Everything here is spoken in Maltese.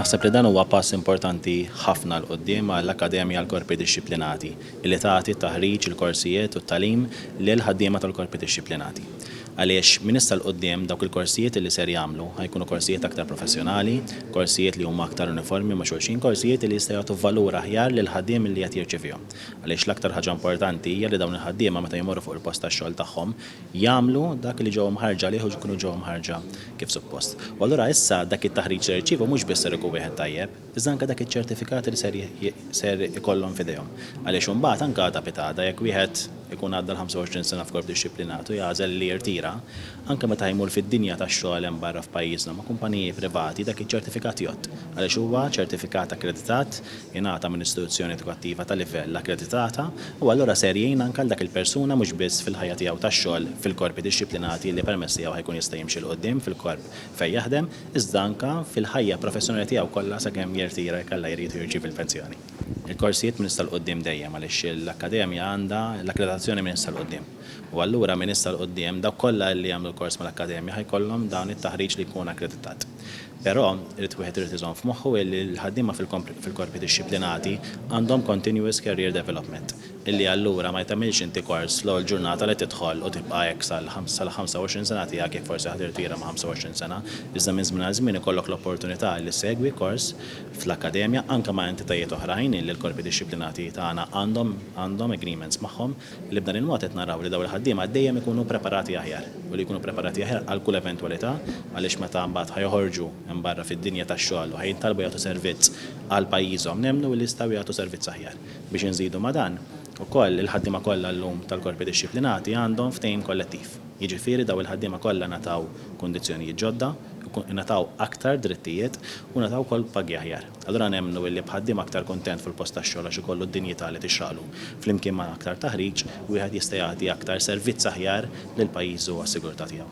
Naħseb li dan huwa pass importanti ħafna 'l quddiem għall-Akkademja għall-Korpi Dixxiplinati li tagħti t-taħriġ, il-korsijiet u t-tagħlim lil ħaddiema tal-Korpi Dixxiplinati. Għaliex minn issa 'l quddiem dawk il-korsijiet li ser jagħmlu ħa jkunu korsijiet aktar professjonali, korsijiet li huma aktar uniformi ma' xulxin, korsijiet li jista' jagħtu valur aħjar lill-ħaddiem li qed jirċevihom. Għaliex l-aktar ħaġa importanti hija li dawn il-ħaddiema meta jmorru fuq il-post tax-xogħol tagħhom, jagħmlu dak li ġew imħarrġa għalih u jkunu ġew imħarrġa kif suppost. U allura issa dak it-taħriġ li jirċievu mhux biss ser ikun wieħed tajjeb, iżda anke dak iċ-ċertifikat li ser ser ikollhom f'idejhom. Għaliex imbagħad anke għada pitgħada jekk wieħed ikun għadda l-25 sena f'korp dixxiplinat u jagħżel li jirtira, anke meta jmur fid-dinja tax-xogħol hemm barra f'pajjiżna ma' kumpaniji privati dak iċ-ċertifikat jgħodd għaliex huwa ċertifikat akkreditat jingħata minn istituzzjoni edukattiva ta' livell akkreditata u allura ser jgħin anke għal dak il-persuna mhux biss fil-ħajja tiegħu tax-xogħol fil-korpi dixxiplinati li permezz tiegħu ħa jkun jista' jimxi 'l quddiem fil-korp fejn jaħdem iżda anke fil-ħajja professjonali tiegħu kollha sakemm jirtira jekk Alla jrid u jirċievi l-pensjoni. Il-korsijiet minn issa 'l quddiem dejjem għaliex l-akkademja għandha l-akkreditazzjoni minn issa 'l quddiem u allura minn issa 'l quddiem dawk kollha li jagħmlu l-kors mal-akkademja ħa jkollhom dan it-taħriġ li jkun akkreditat. Però, irid wieħed irid iżomm f'moħħu illi l-ħaddiema fil-korpi dixxiplinati għandhom continuous career development, illi allura ma tagħmilx inti kors l-ewwel ġurnata li tidħol u tibqa' hekk sal-25 sena tiegħek jekk forsi ħa tirtira ma' 25 sena, iżda minn żmien għal żmien ikollok l-opportunità illi ssegwi kors fl-akkademja anke ma' entitajiet oħrajn illi l-korpi dixxiplinati tagħna għandhom agreements magħhom. li b'dan il-mod qed naraw li dawn il-ħaddiema dejjem ikunu preparati aħjar u li jkunu preparati aħjar għal kull eventwalità għaliex meta mbagħad ħa joħorġu hemm barra fid-dinja tax-xogħol u ħa jintalbu jagħtu servizz għal pajjiżhom nemmnu li jistgħu jagħtu servizz aħjar. Biex inżidu ma' dan, ukoll il-ħaddiema kollha llum tal-korpi dixxiplinati għandhom ftehim kollettiv, jiġifieri dawn il-ħaddiema kollha ngħataw kundizzjonijiet ġodda, ingħataw aktar drittijiet u ngħataw ukoll pagi aħjar. Allura nemmnu illi b'ħaddiem aktar kuntent fil-post tax-xogħol għax ikollu d-dinjità li tixraqlu, flimkien ma' aktar taħriġ, wieħed jista' jagħti aktar servizz aħjar lil pajjiżu u għas-sigurtà tiegħu.